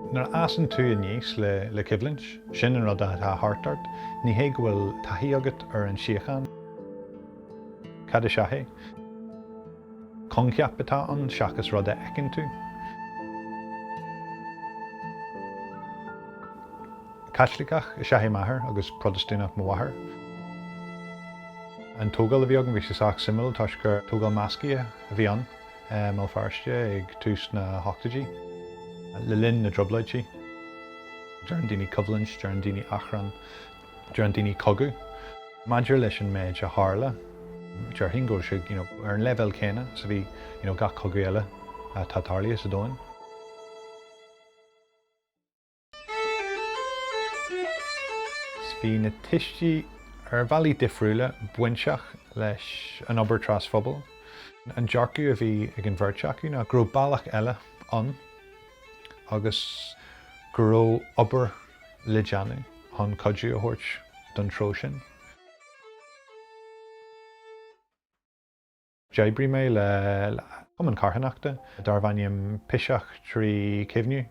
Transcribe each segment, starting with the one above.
Nuair a fhásann tú aníos le coimhlint, sin an rud atá thart ort. Ní hé go bhfuil taithí agat ar an tsíocháin. Cad is ea í? Coincheap atá ann seachas rud a fheiceann tú. Caitliceach is ea é m'athair agus Protastúnach mo mháthair. An tógáil a bhí agam, bhí sé sách suimiúil toisc gur tógáil meascaithe a bhí ann i mBéal Feirste ag tús na hochtóidí. Le linn na dtrioblóidí, deireann daoine coimhlint, deireann daoine achrann. Deireann daoine cogadh. Maidir leis an méid a tharla, déarfainn go bhfuil sé, you know, ar an leibhéal céanna is a bhí, you know, gach cogadh eile atá tarlaithe sa domhain. Is bhí na tuistí, ar bhealaí difriúla, bainteach leis an obair trasphobail. An dearcadh a bhí ag an bheirt acu ná go raibh bealach eile ann agus go raibh obair le déanamh chun cuidiú a thabhairt don treo sin. D'oibrigh mé le cumann carthanachta darbh ainm Piseach trí Chuimhniú.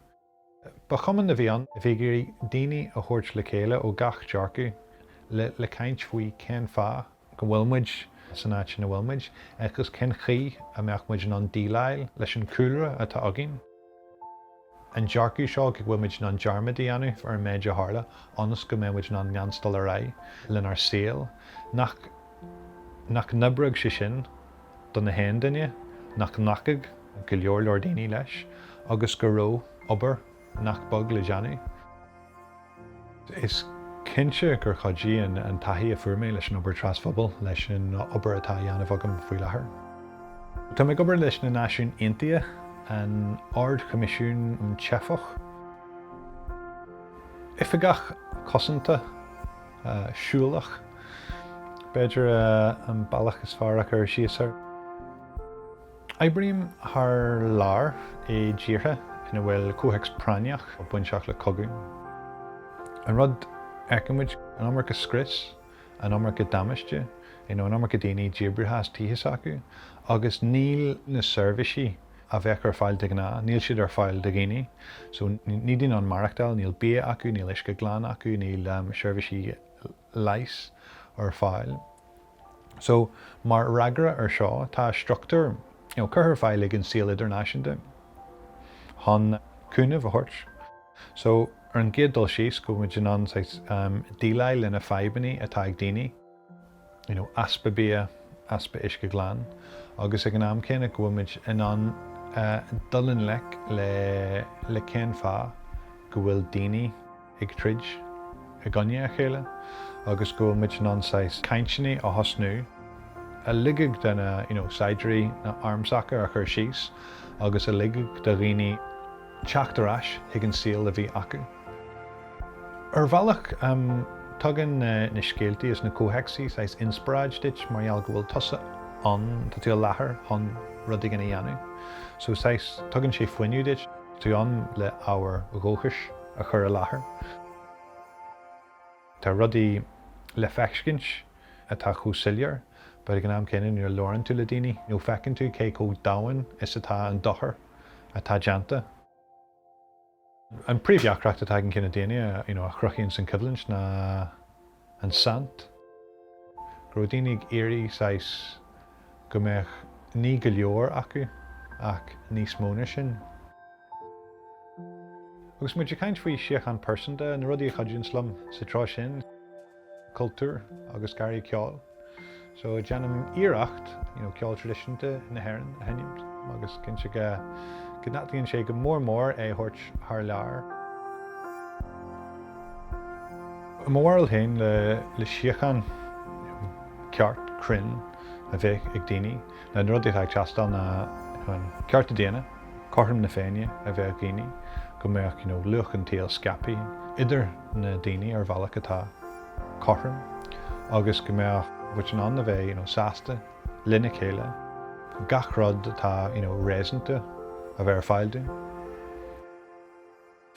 Ba chumann a bhí ann a bhí ag iarraidh daoine a thabhairt le chéile ó gach dearcadh le caint faoi cén fáth go bhfuil muid san áit ina bhfuil muid agus cén chaoi a mbeidh muid in ann déileáil leis an cúlra atá againn. an dearcadh seo go bhfuil muid in ann dearmad a dhéanamh ar an méid a tharla ionas go mbeidh muid in ann leanstáil ar aghaidh lenár saol, nach nach n-oibreodh sé sin d'aon duine, nach nglacfadh go leor leor daoine leis agus go raibh obair nach beag le déanamh. Is cinnte gur chuidigh an taithí a fuair mé leis an obair trasphobail leis an obair atá á dhéanamh agam faoi láthair. Tá mé ag obair leis na Náisiúin Aontaithe, an Ard-Choimisiún um Theifigh, Oifigeach Cosanta Siúlach, b'fhéidir an bealach is fearr le cur síos air. Oibrím thar lear i dtíortha ina bhfuil comhthéacs práinneach bainteach le cogadh. An rud a fheiceann muid, an iomarca scrios, an iomarca damáiste, you know an iomarca daoine díbrithe as tithe s'acu agus níl na seirbhísí a bheadh ar fáil de ghnáth, níl siad ar fáil do dhaoine. So níl daoine in ann maireachtáil, níl bia acu, níl uisce glan acu, níl seirbhísí. leighis ar fáil. So, mar fhreagra ar seo, tá struchtúr, you know, curtha ar fáil ag an saol idirnáisiúnta chun cúnamh a thabhairt. So, ar an gcéad dul síos, go bhfuil muid in ann, saghas, díleáil le na fadhbanna atá ag daoine, you know, easpa bia, easpa uisce glan, agus ag an am céanna, go bhfuil muid in ann dul i ngleic le cén fáth go bhfuil daoine, ag troid i gcoinne a chéile agus go bhfuil muid in ann saghas cainteanna a thosnú a ligfeadh do na you know saighdiúirí na armsacha a chur síos agus a ligfeadh do dhaoine teacht ar ais chuig an saol a bhí acu. Ar bhealach em tugann na na scéaltaí is na comhthéacsaí saghas inspioráid duit mar gheall go bhfuil tusa ann, tá tú i láthair chun rud éigin a dhéanamh so saghas tugann sé fuinneamh duit, tú ann le ábhar dóchais. a chur i láthair. Tá rudaí le feiscint atá chomh soiléir, but ag an am céanna nuair a labhrann tú le daoine nó feiceann tú cé chomh domhain is atá an dochar atá déanta. An príomhdheacracht atá ag an gcine daoine a chruthaíonn an choimhlint ná. an saint, go raibh daoine ag iarraidh saghas go mbeadh ní go leor acu ach níos mó ná sin. Agus muid ag caint faoi síocháin phearsanta, na rudaí a chuidíonns liom sa treo sin, cultúr agus garraí ceoil. So déanaim iarracht you know ceol traidisiúnta na hÉireann a sheinnimt agus cinnte go n-aireachtaíonn sé go mór mór é thabhairt thar lear. I mo bharúil féin le le síocháin ceart cruinn a bheith ag daoine le na rudaí atá ag teastáil na an cearta daonna, cothrom na féine a bheith ag daoine, go mbeadh you know luach an tsaoil scaipthe idir na daoine ar bhealach atá cothrom agus go mbeadh muid in ann a bheith, you know, sásta lena chéile, gach rud atá, you know, réasúnta a bheith ar fáil dúinn.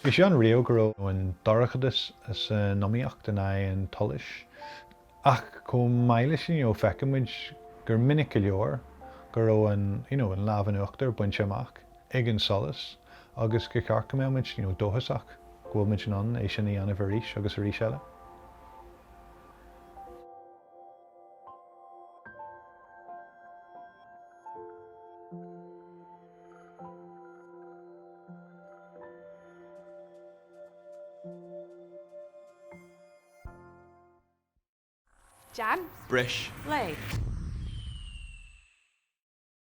Bhí sé ann riamh go raibh an dorchadas san iomaíocht in aghaidh an tsolais ach chomh maith leis sin, you know, feiceann muid gur minic go leor go raibh an, you know, an lámh in uachtar bainte amach. ag an solas agus gur cheart go mbeadh muid dóchasach go bhfuil muid in ann é sin a dhéanamh arís agus arís eile. Jan? Breis. Lay.